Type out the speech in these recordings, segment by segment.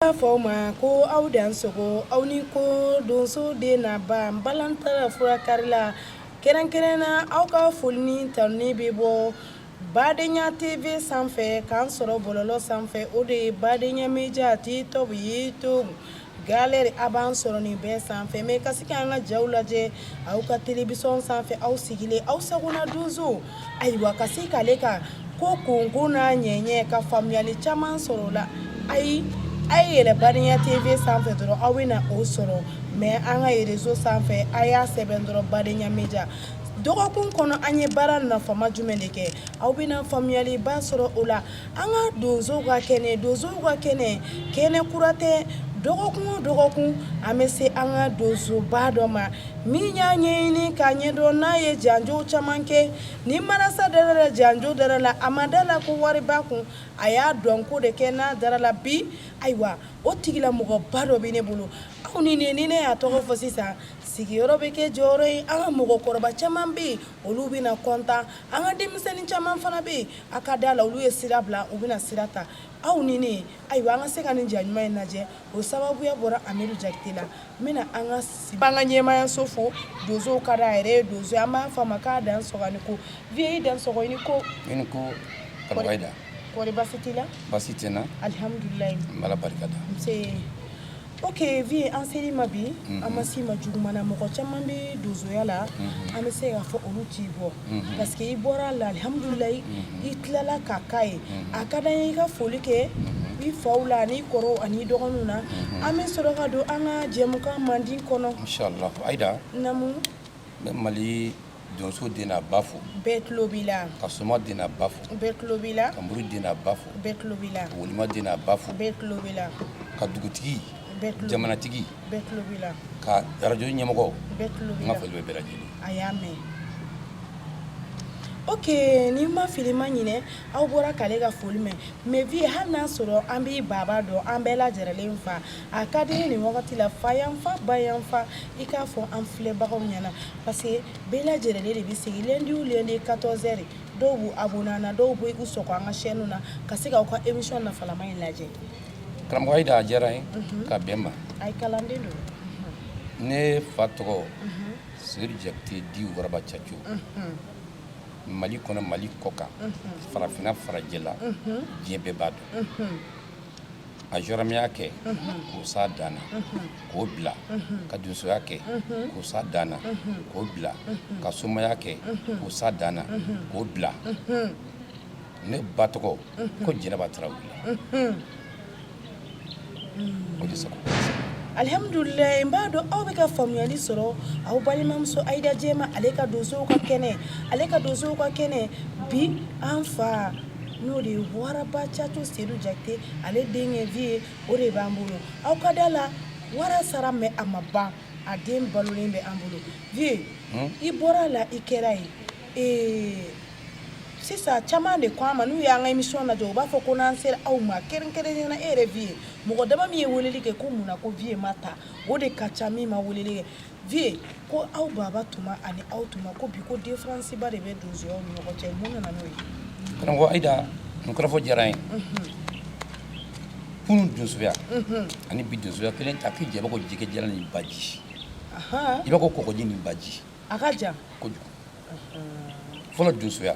N b'a fɔ aw ma ko aw dan sogo aw ni ko donso den n'a ba balantala furakarila kɛrɛnkɛrɛnna aw ka foli ni tanuni bɛ bɔ Badenya TV sanfɛ k'an sɔrɔ bɔlɔlɔ sanfɛ o de ye Badenya Media TikTok YouTube Galerie a b'an sɔrɔ nin bɛɛ sanfɛ mais ka se k'an ka jaw lajɛ aw ka télévision sanfɛ aw sigilen aw sagona donso ayiwa ka se k'ale ka ko kunko n'a ɲɛɲɛ ka faamuyali caman sɔrɔ la ayi a ye yɛlɛ Badenya TV sanfɛ dɔrɔn aw bɛna o sɔrɔ mais an ka réseau sanfɛ a y'a sɛbɛn dɔrɔn Badenya Media dɔgɔkun kɔnɔ an ye baara nafama jumɛn de kɛ aw bɛna faamuyaliba sɔrɔ o la An ka donso ka kɛnɛ donso ka kɛnɛ kɛnɛ kura tɛ dɔgɔkun o dɔgɔkun an bɛ se an ka donsoba dɔ ma min y'a ɲɛɲini k'a ɲɛdɔn n'a ye janjo caman kɛ ni marasa dara la janjo dara la a ma da la ko wariba kun a y'a dɔn ko de kɛ n'a dara la bi ayiwa o tigilamɔgɔba dɔ bɛ ne bolo aw ni ne y'a tɔgɔ fɔ sisan sigiyɔrɔ bɛ kɛ jɔyɔrɔ ye an ka mɔgɔkɔrɔba caman bɛ yen olu bɛna kɔntan an ka denmisɛnnin caman fana bɛ yen a ka da la olu ye sira bila u bɛna sira ta aw ni ne ayiwa an ka se ka nin ja ɲuman in lajɛ o sababuya bɔra Amidu Jakite la n bɛna an ka siba an ka ɲɛmaayaso fo donsow ka d'a yɛrɛ ye donso an b'a fɔ a ma k'a dan sɔgɔ ni ko vieux i dan sɔgɔ ni ko i ni ko Karamɔgɔ Ayida kɔri baasi t'i la baasi tɛ n na alihamudulilayi n b'Ala barika da nse Ok vieux an ser'i ma bi an ma s'i ma juguman na mɔgɔ caman bɛ donsoya la an bɛ se k'a fɔ olu t'i bɔ parce que i bɔra la alihamudulilayi i tilala k'a k'a ye a ka d'an ye i ka foli kɛ i faw la ani i kɔrɔw ani i dɔgɔninw na an bɛ sɔrɔ ka don an ka jɛmukan mandi kɔnɔ Mali donso den n'a ba fo bɛɛ tulo b'i la ka soma den n'a ba fo bɛɛ tulo b'i la ka mori den n'a ba fo bɛɛ tulo b'i la ka walima den n'a ba fo bɛɛ tulo b'i la ka dugutigi jamanatigi bɛɛ tulo b'i la ka arajo ɲɛmɔgɔ bɛɛ tulo b'i la ka foli bɛ bɛɛ lajɛlen a y'a mɛn ok ni ma fili ma ɲinɛ aw bɔra k'ale ka foli mɛn mais vieux hali n'a sɔrɔ an b'i baba dɔn an bɛɛ lajɛrɛlen fa a ka di n ye nin wagati la fa yanfan ba yanfan i k'a fɔ an filɛbagaw ɲɛna Parce que bɛɛ lajɛrɛlen de bɛ sigi lundi o lundi 14 heures dɔw b'u abonné an na dɔw bɛ u sɔgɔ an ka chaîne na ka se k'aw ka émission nafalama in lajɛ. Karamɔgɔ Ayida a diyara n ye ka bɛn n ma. Ayi kalanden don. Ne fa tɔgɔ Sedu Jakite dit Waraba Caco Mali kɔnɔ Mali kɔkan farafinna farajɛla diɲɛ bɛɛ b'a dɔn. a jɔrɔmɛya kɛ k'o s'a dan na k'o bila ka donsoya kɛ k'o s'a dan na k'o bila ka somaya kɛ k'o s'a dan na k'o bila ne ba tɔgɔ ko jɛnɛba tarawele o de sago alihamdulilayi n b'a dɔn aw bɛ ka faamuyali sɔrɔ aw balimamuso ayida jɛma ale ka donsow ka kɛnɛ ale ka donsow ka kɛnɛ bi an fa n'o de ye waraba caco sedu jakite ale denkɛ vie o de b'an bolo aw ka da la wara sara mais a ma ban a den balolen bɛ an bolo vie i bɔra la i kɛra ye ee sisan caman de ko an ma n'u y'an ka émission lajɛ u b'a fɔ ko n'an sera aw ma kɛrɛnkɛrɛnnenya na e yɛrɛ vie mɔgɔ dama min ye weleli kɛ ko mun na ko vie ma ta o de ka ca min ma weleli kɛ vie ko aw baba tuma ani aw tuma ko bi ko différence ba de bɛ donsoyaw ni ɲɔgɔn cɛ mun nana n'o ye karamɔgɔ ayida nin kɔrɔfɔ diyara n ye kunun donsoya ani bi donsoya kelen tɛ a k'i jɛ i b'a ko jɛgɛ jalan ni baji i b'a ko kɔgɔji ni baji a ka jan kojugu fɔlɔ donsoya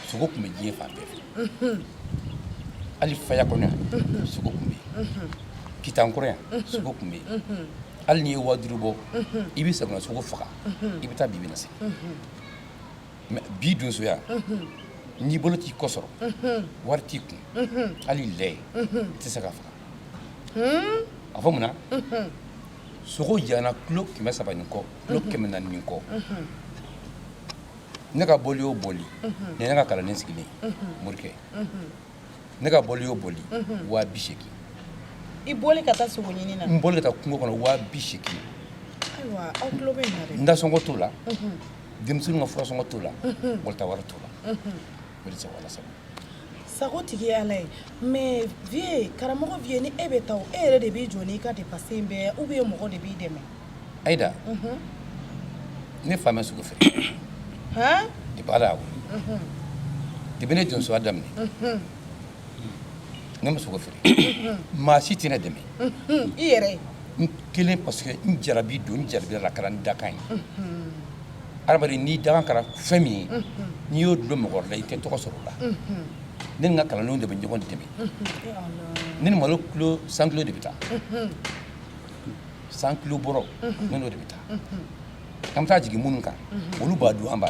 sogo tun bɛ diɲɛ fan bɛɛ fɛ hali faya kɔnɔ yan sogo tun bɛ yen kitan kɔrɔ yan sogo tun bɛ yen hali n'i ye waduuru bɔ i bɛ sagona sogo faga i bɛ taa bibi na se mais bi donsoya n'i bolo t'i kɔ sɔrɔ wari t'i kun hali lɛ i tɛ se k'a faga a fɔ munna sogo jana kilo kɛmɛ saba ni kɔ kilo kɛmɛ naani ni kɔ ne ka bɔli o bɔli ni ne ka kalanden sigilen morikɛ ne ka bɔli o bɔli waa bi seegin i bɔli ka taa sogo ɲini na n bɔli ka taa kungo kɔnɔ waa bi seegin ayiwa aw tulo bɛ n na dɛ n dasɔngɔ t'o la denmisɛnninw ka furasɔngɔ t'o la walita wari t'o la o de sago ala sago sago tigi ye ala ye mais vie karamɔgɔ vie ni e bɛ taa e yɛrɛ de b'i jɔ n'i ka dépense in bɛɛ ye ou bien mɔgɔ de b'i dɛmɛ ayida mhm. ne fa ma sogo feere depuis ala y'a wolo depuis ne ye donsoya daminɛ mhm. ne ma sogo feere maa si tɛ ne dɛmɛ i yɛrɛ n kelen parce que n jarabi don n jarabira a la a kɛra n dakan ye adamaden n'i dakan kɛra fɛn min ye n'i y'o dulon mɔgɔ wɛrɛ la i tɛ tɔgɔ sɔrɔ o la ne ni n ka kalandenw de bɛ ɲɔgɔn dɛmɛ ne ni malo kilo cent kilo de bɛ taa cent kilo bɔrɔ ne n'o de bɛ taa an bɛ taa jigin minnu kan olu b'a dun an b'a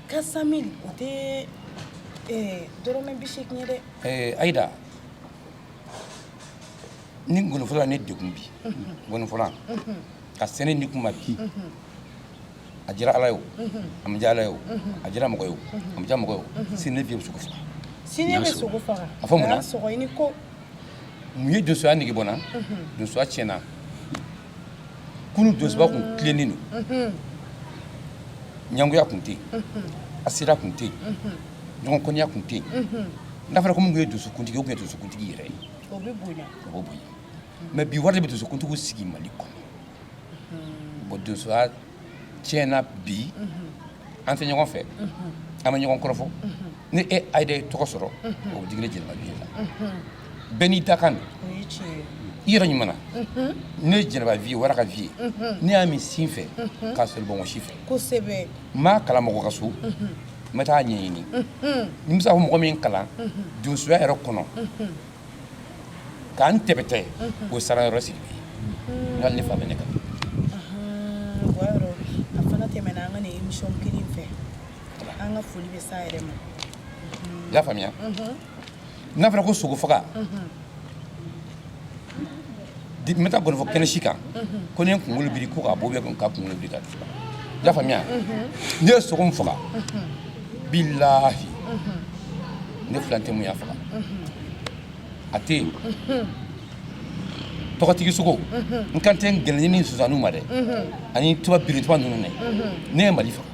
quatre cent mille o tɛ dɔrɔmɛ bi seegin ye dɛ ɛɛ ayida ni nkɔnifɔla ne degun bi nkɔnifɔla ka sɛnɛ ni kuma bi a diyara ala ye o a ma diya ala ye o a diyara mɔgɔ ye o a ma diya mɔgɔ ye o sini ne vie bɛ sogo faga sini bɛ sogo faga a fɔ mun na sɔgɔ ko mun ye donsoya nege bɔ n na donsoya tiɲɛna kunun donsoba kun tilennen don ɲangoya kun tɛ yen asira kun tɛ yen ɲɔgɔn kɔniya kun tɛ yen n'a fɔra ko min kun ye donsokuntigi o kun ye donsokuntigi yɛrɛ ye o bɛ bonya o bɛ bonya mais bi wari de bɛ donsokuntigiw sigi mali kɔnɔ bon donsoya tiɲɛna bi an tɛ ɲɔgɔn fɛ an bɛ ɲɔgɔn kɔrɔfɔ ni e ayida ye tɔgɔ sɔrɔ o bɛ digi ne jɛnɛba viye la bɛɛ n'i dakan don i yɛrɛ ɲuman ne ye jɛnɛba viye wara ka viye ne y'a min sin fɛ k'a sɔrɔ bonbonsi fɛ kosɛbɛ n m'a kalan mɔgɔ ka so n bɛ taa ɲɛɲini ni n bɛ se ka fɔ mɔgɔ min kalan donsoya yɛrɛ kɔnɔ K'an tɛmɛtɔ ye o sara yɔrɔ sidibe hali ne fa bɛ ne kan o yɔrɔ a fana tɛmɛna an ka nin émission kelen fɛ an ka foli bɛ s'a yɛrɛ ma i y'a faamuya n'a fɔra ko sogo faga N tɛ taa nkɔni fɔ kɛnɛ si kan ko ne kunkolo biri ko k'a bɔ bɛ ka kunkolo biri i y'a faamuya ne ye sogo min faga bilahi ne filan tɛ min y'a faga a tɛ yen tɔgɔtigi sogo n kan tɛ nkɛlɛn ni sonsanninw ma dɛ ani tuba birintuba ninnu ne ye mali faga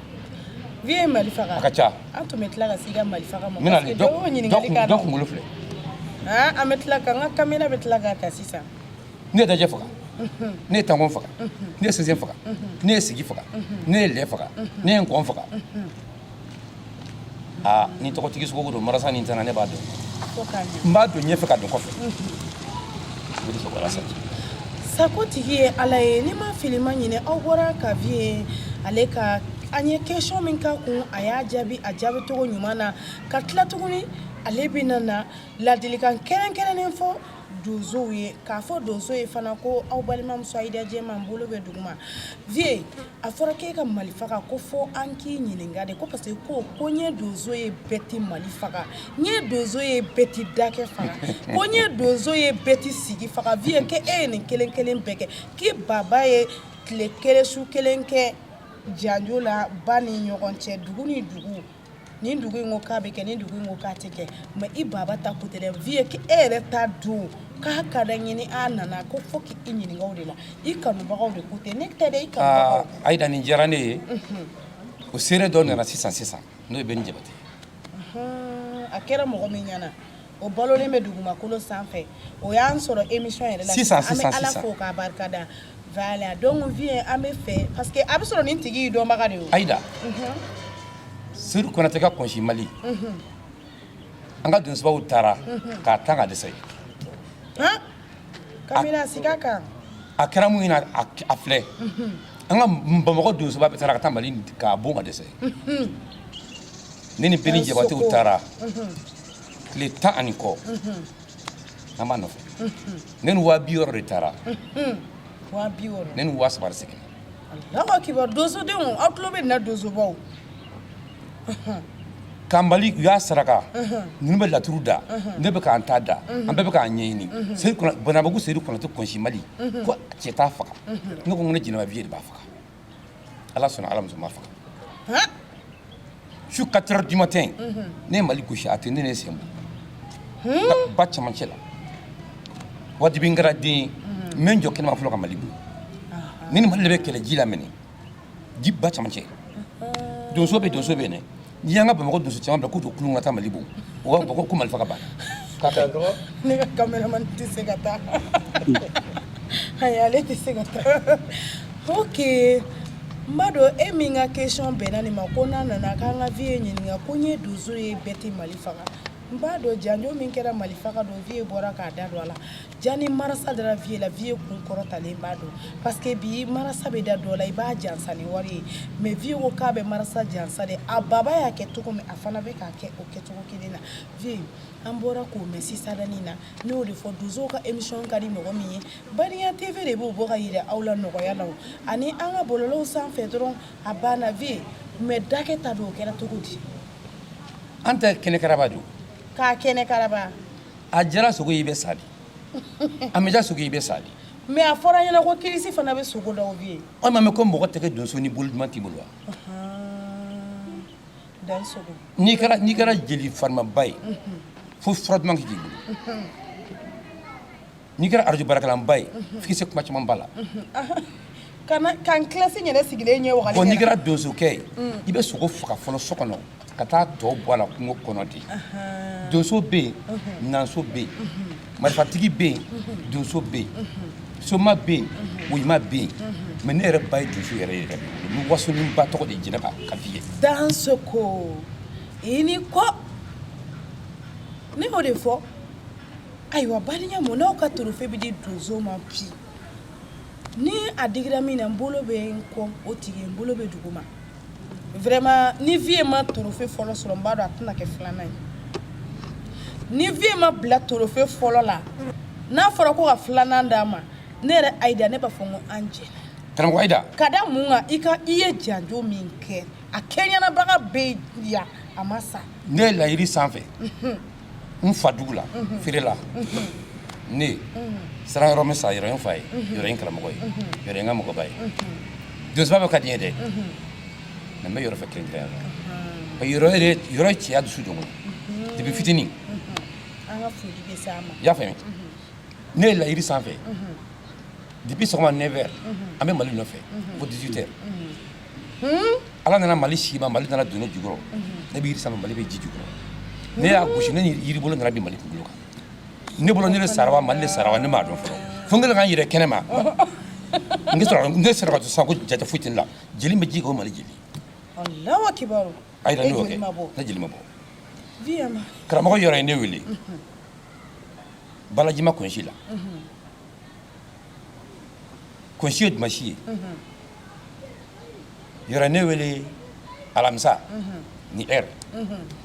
vie ye mali faga a ka ca an tun bɛ tila ka se i ka mali faga ma parce que dɔ y'o ɲininkali k'a dɔ kunkolo filɛ an bɛ tila ka n ka kamera bɛ tila k'a ta sisan ne ye dajɛ faga ne ye tankɔn faga ne ye sɛnsɛn faga ne ye sigi faga ne ye lɛ faga ne ye nkɔn faga aa ni tɔgɔtigi sogo don marasa ni tana ne b'a dɔn n b'a dɔn ɲɛfɛ k'a dɔn kɔfɛ sibiri sɔgɔla sa sako tigi ye ala ye n'i ma fili i ma ɲinɛ aw bɔra ka viye ale ka an ye question min k'a kun a y'a jaabi a jaabi cogo ɲuman na ka tila tuguni ale bɛna na ladilikan kɛrɛnkɛrɛnnen fɔ donsow ye k'a fɔ donso ye fana ko aw balimamuso ayida jɛman n bolo bɛ duguma vie a fɔra k'e ka mali faga ko fɔ an k'i ɲininka de ko parce que ko ko n ye donso ye bɛɛ tɛ mali faga n ye donso ye bɛɛ tɛ dakɛ faga ko n ye donso ye bɛɛ tɛ sigi faga vie ke e ye nin kelen kelen bɛɛ kɛ k'i baba ye tile kelen su kelen kɛ janjo la ba ni ɲɔgɔn cɛ dugu ni dugu ni dugu in ko k'a bɛ kɛ ni dugu in ko k'a tɛ kɛ mais i baba ta ko tɛ dɛ vie e yɛrɛ ta don k'a ka da ɲini a nana ko fo k'i i ɲininka o de la i kanubagaw de ko tɛ ne tɛ dɛ i kanubagaw ah, ayida nin diyara ne ye mhm. o seere dɔ nana sisan sisan n'o ye Bɛni Jabate a kɛra mɔgɔ min ɲɛna o balolen bɛ dugumakolo sanfɛ o y'an sɔrɔ émission yɛrɛ la sisan an bɛ Ala fo k'a barikada voilà donc vie an b'i fɛ parce que a bɛ sɔrɔ nin tigi ye dɔnbaga de ye Ayida Seyidu Konatɛ ka kɔnsi Mali an ka donsobaw taara k'a tan ka dɛsɛ kabini siga kan a kɛra min ɲɛna a filɛ an ka Bamakɔ donsoba bɛɛ taara ka taa Mali k'a bon ka dɛsɛ ne ni Bɛni Jabatew taara tile tan ani kɔ an b'a nɔfɛ ne ni waa bi wɔɔrɔ de taara ne ni waa saba de seginna Allahu akibar donsodenw aw tulo bɛ n na donsobaw ka mali u y'a saraka ninnu bɛɛ laturu da ne bɛ k'an ta da an bɛɛ bɛ k'an ɲɛɲini Banabagu Seyidu Konatɛ kɔnsi mali ko cɛ t'a faga ne ko n ko ne Jɛnɛba vie de b'a faga ala sɔnna ala ma sɔn n b'a faga su quatre heures du matin ne ye mali gosi a tɛ ne ne sen bɔ ba camancɛ la wajibi kɛra den ye n bɛ n jɔ kɛnɛma fɔlɔ ka mali bon ne ni mali de bɛ kɛlɛ ji la minɛ ji ba camancɛ donso bɛ donso bɛ yen dɛ N'i y'an ka bamakɔ donso caman bila k'u don kulun ka taa mali bon u b'a fɔ ko mali faga banna ne ka cameraman tɛ se ka taa ale tɛ se ka taa ok n b'a dɔn e min ka question bɛnna nin ma ko n'a nana k'an ka vie ɲininka ko n ye donso ye bɛɛ tɛ mali faga n b'a dɔn janjo min kɛra mali faga don vie bɔra k'a da don a la Jani marasa dara vie la vie kun kɔrɔtalen b'a dɔn parce que bi marasa bɛ da dɔ la i b'a jansa ni wari ye mais vie ko k'a bɛ marasa jansa de a baba y'a kɛ cogo min a fana bɛ k'a kɛ o kɛcogo kelen na vie an bɔra k'o mɛn sisanni na ne y'o de fɔ donsow ka émission ka di mɔgɔ min ye Badenya TV de b'o bɔ ka yira aw la nɔgɔya la o ani an ka bɔlɔlɔw sanfɛ dɔrɔn a banna vie mais dakɛ ta don o kɛra cogo di an tɛ kɛnɛ karaba don k'a kɛnɛ karaba a diyara sogo ye i bɛ sa de a ma diya sogo ye i bɛ sa de mais a fɔra an ɲɛna ko kirisi fana bɛ sogo dɔw bɛ yen an m'a mɛn ko mɔgɔ tɛ kɛ donso ni bolo duman t'i bolo wa dan sogo n'i kɛra n'i kɛra jeli farimaba ye fo fura duman ka k'i bolo n'i kɛra arajo baarakɛlaba ye f'i se kuma caman ba la kan kilasi yɛrɛ sigilen ɲɛ wagati n'i kɛra donsokɛ ye i bɛ sogo faga fɔlɔ so kɔnɔ ka taa tɔ bɔ a la kungo kɔnɔ de donso bɛ yen nanso bɛ yen marifatigi bɛ yen donso bɛ yen soma bɛ yen woyima bɛ yen mais ne yɛrɛ ba ye donso yɛrɛ ye yɛrɛ ni wasonin ba tɔgɔ de jɛnɛba ka f'i ye dansɔgɔ i ni ko ne y'o de fɔ ayiwa baliya mun n'aw ka torofe bɛ di donso ma bi ni a digira min na n bolo bɛ n kɔ o tigi n bolo bɛ duguma vraiment ni vieux ma torofe fɔlɔ sɔrɔ n b'a dɔn a tɛna kɛ filanan ye ni vieux ma bila torofe fɔlɔ la n'a fɔra ko ka filanan d'a ma ne yɛrɛ ayida ne b'a fɔ n ko an jɛna karamɔgɔ ayida ka da mun kan i ye janjo min kɛ a kɛɲɛnabaga bɛ yan a ma sa ne yɛlɛla yiri sanfɛ n fa dugu la feerela ne sera yɔrɔ min sa yɔrɔ ye n fa ye yɔrɔ ye n karamɔgɔ ye yɔrɔ ye n ka mɔgɔba ye donsoba bɛɛ ka di n ye dɛ mais n bɛ yɔrɔ fɛ kɛrɛnkɛrɛn yɔrɔ ye yɔrɔ ye cɛya dusu don n kɔnɔ depuis fitinin i y'a faamuya ne yɛlɛla yiri sanfɛ depuis sɔgɔma neuf heures an bɛ mali nɔfɛ fo dix-huit heures ala nana mali se n ma mali nana don ne jukɔrɔ ne bɛ san ma mali bɛ ji jukɔrɔ ne y'a gosi ne ni yiribolo nana bin mali kunkolo kan ne bolo ne de sara wa mali de sara wa ne m'a dɔn fɔlɔ fo n kɛlen ka n yɛrɛ kɛnɛman sɔrɔ ne sera k'a dɔn sisan ko jate foyi tɛ ne la jeli min bɛ ji kan o mali jeli a yɛrɛ ne y'o kɛ ne jeli ma bɔ karamɔgɔ yɔrɔ ye ne wele balajima kɔnsi la kɔnsi ye dimansi ye yɔrɔ ye ne wele alamisa nin heure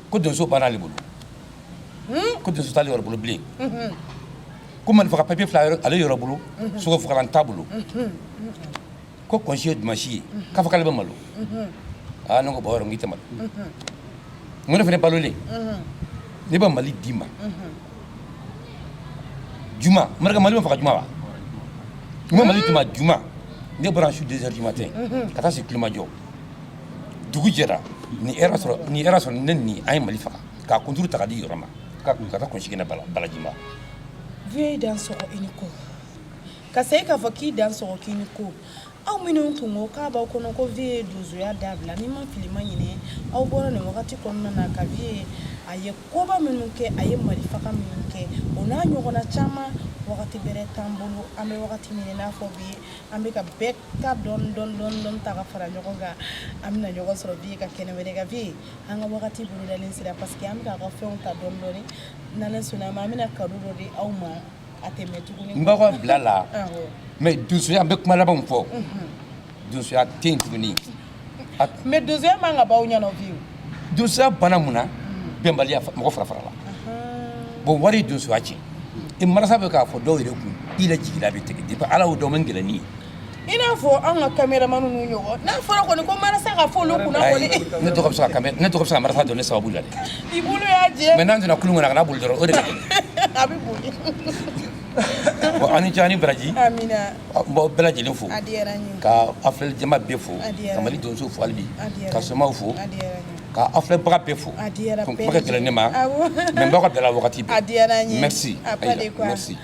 ko donso banna ale bolo ko donso t'ale yɔrɔ bolo bilen ko mali faga papiye filɛ ale yɔrɔ bolo sogo fagala t'a bolo ko kɔnsi ye dimansi ye k'a fɔ k'ale bɛ malo aa ne ko bon yɔrɔ n k'i tɛ malo n ko ne fana balolen ne bɛ mali d'i ma juma maraka mali bɛ faga juma wa n ko mali d'i ma juma ne bɔra su deux heures du matin ka taa se kulomajɔ dugu jɛra nin heure a sɔrɔ ne ni an ye mali faga k'a kunturu ta ka di yɔrɔ ma ka taa kɔnsi kɛnɛ na balajima vieux i dansɔgɔ i ni ko ka segin k'a fɔ k'i dansɔgɔ k'i ni ko aw minnu tun ko k'a b'aw kɔnɔ ko vieux ye donsoya dabila ni n ma fili n ma ɲinɛ aw bɔra nin wagati kɔnɔna na ka vieux a ye koba minnu kɛ a ye mali faga minnu kɛ o n'a ɲɔgɔnna caman wagati bɛrɛ t'an bolo an bɛ wagati min i n'a fɔ bi an bɛ ka bɛɛ ta dɔɔni dɔɔni dɔɔni dɔɔni ta ka fara ɲɔgɔn kan an bɛna ɲɔgɔn sɔrɔ vieux ka kɛnɛ wɛrɛ kan vieux an ka wagati bolodalen sera parce que an bɛ k'a ka fɛnw ta dɔɔni dɔɔni n'Ala sɔnna a ma an bɛna cadeau dɔ di aw ma N b'aw ka bila la mais donsoya an bɛ kuma labanw fɔ donsoya tɛ yen tuguni mais donsoya man ka b'aw ɲɛna donsoya banna mun na bɛnbaliya mɔgɔ fara farala bon wari ye donsoya tiɲɛ i marasa bɛ ka fɔ dɔw yɛrɛ kun i jigila bɛ tigɛ di ala o dɔn man gɛlɛn nin ye I n'a fɔ anw ka caméraman ninnu ɲɔgɔn n'a fɔra kɔni ko marasa ka fɔ olu kunna kɔni ne tɔgɔ bɛ se ka marasa dɔn ne sababu la i bolo y'a jɛ mais n'an donna kulu kɔnɔ a kana boli dɔrɔn o de a bɛ boli bon ani ce ani baraji n b'aw bɛɛ lajɛlen fo ka a filɛli jama bɛɛ fo ka mali donso fo halibi ka somaw fo ka aw filɛbaga bɛɛ fo kuma ka gɛlɛn ne ma mais n b'aw ka bila la wagati bɛɛ merci merci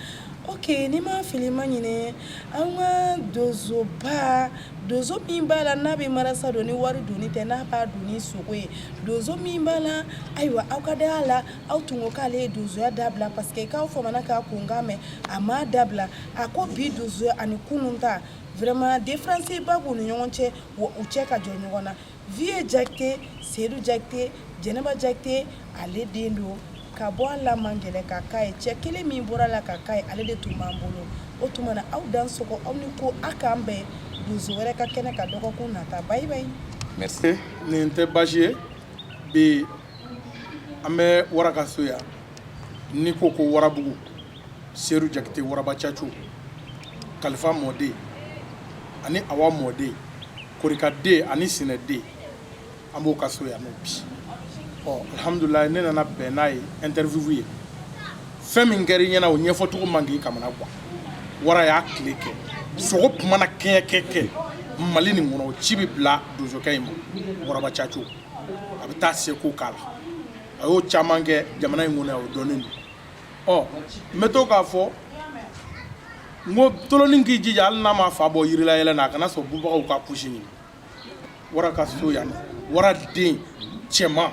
Oke n'i ma fili ma ɲinɛ an ka donsoba donso min b'a la n'a bɛ marasa dɔn ni wari don tɛ n'a b'a dɔn ni sogo ye donso min b'a la ayiwa aw ka da a la aw tun ko k'ale ye donsoya dabila parce que k'aw famana k'a kunkan mɛn a m'a dabila a ko bi donso ani kunun ta vraiment différence ba b'u ni ɲɔgɔn cɛ wa u tɛ se ka jɔ ɲɔgɔn na vieux Jakite Seydou Jakite Jɛnɛba Jakite ale den don ka bɔ a la man gɛlɛn ka k'a ye cɛ kelen min bɔra a la ka k'a ye ale de tun b'an bolo o tuma na aw dansɔgɔ aw ni ko a k'an bɛn donso wɛrɛ ka kɛnɛ kan dɔgɔkun nata bye bye merci nin tɛ baasi ye bi an bɛ wara ka so yan n'i ko ko warabugu Seydou Jakite waraba caco kalifa mɔden ani awa mɔden korikaden ani sinɛden an b'o ka so yan nɔ bi ɔ alihamudulayi ne nana bɛn n'a ye interview ye fɛn min kɛra i ɲɛna o ɲɛfɔcogo man k'i kamana gan wara y'a tile kɛ sogo kuma na kɛɲɛ kɛ kɛ mali nin kɔnɔ ci bɛ bila donsokɛ in ma waraba caco a bɛ taa seko k'a la a y'o caman kɛ jamana in kɔnɔ yan o dɔnnen don ɔ n bɛ to k'a fɔ n ko tolonin k'i jija hali n'a ma fa bɔ yirila yɛlɛ na a kana sɔn bubagaw k'a kusi ɲimi wara ka so yan nɔ wara den cɛman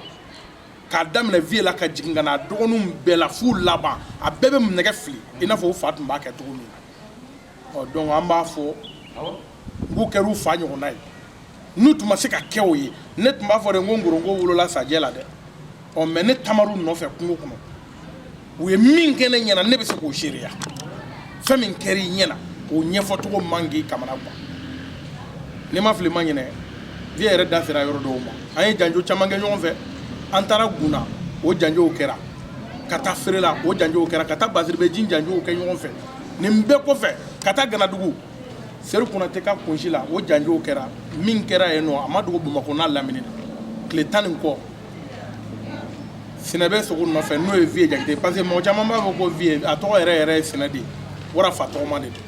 k'a daminɛ vieux la ka jigin ka na a dɔgɔninw bɛɛ la f'u laban a bɛɛ bɛ nɛgɛ fili i n'a fɔ u fa tun b'a kɛ cogo min na ɔ donc an b'a fɔ u kɛra u fa ɲɔgɔnna ye n'u tun ma se ka kɛ o ye ne tun b'a fɔ de ko nkoronko wolola sajɛ la dɛ ɔ mais ne taamar'u nɔfɛ kungo kɔnɔ u ye min kɛ ne ɲɛna ne bɛ se k'o seereya fɛn min kɛra i ɲɛna o ɲɛfɔcogo man k'i kamana gan n'i ma fili ma ɲinɛ vieux yɛrɛ da sera yɔrɔ dɔw ma an ye janjo caman kɛ ɲɔgɔn fɛ an taara gun na o janjow kɛra ka taa feere la o janjow kɛra ka taa basiribeji janjow kɛ ɲɔgɔn fɛ nin bɛɛ kɔfɛ ka taa ganadugu Seydou Konate ka kunsi la o janjo kɛra min kɛra yen nɔ a ma dogo Bamakɔ n'a lamini na tile tan ni kɔ Sinɛ bɛ sogo nɔfɛ n'o ye Vieux Jakite ye parce que mɔgɔ caman b'a fɔ ko Vieux a tɔgɔ yɛrɛ yɛrɛ ye Sinɛ de ye wara fa tɔgɔma de don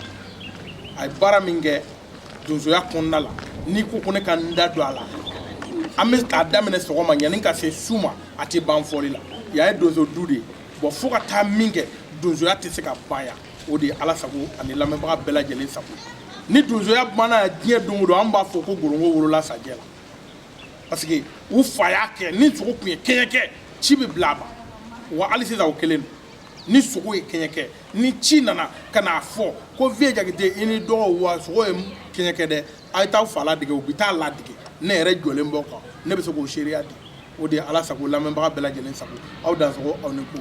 a ye baara min kɛ donsoya kɔnɔna la n'i ko ko ne ka n da don a la an bɛ k'a daminɛ sɔgɔma yanni ka se su ma a tɛ ban fɔli la yan ye donso du de ye bon fo ka taa min kɛ donsoya tɛ se ka ban yan o de ye ala sago ani lamɛnbaga bɛɛ lajɛlen sago ni donsoya banna diɲɛ don o don an b'a fɔ ko ngɔrɔngɔ wolola sajɛ la parce que u fa y'a kɛ ni sogo tun ye kɛɲɛ kɛ ci bɛ bila a ma wa hali sisan o kelen don ni sogo ye kɛɲɛ kɛ ni ci nana ka n'a fɔ ko vieux jakite i ni dɔgɔw wa sogo ye kɛɲɛ kɛ dɛ a ye taa aw fa ladege u bɛ taa a ladege ne yɛrɛ jɔlen b'o kan ne bɛ se k'o seereya di o de ye ala sago lamɛnbaga bɛɛ lajɛlen sago aw dansɔgɔ aw ni ko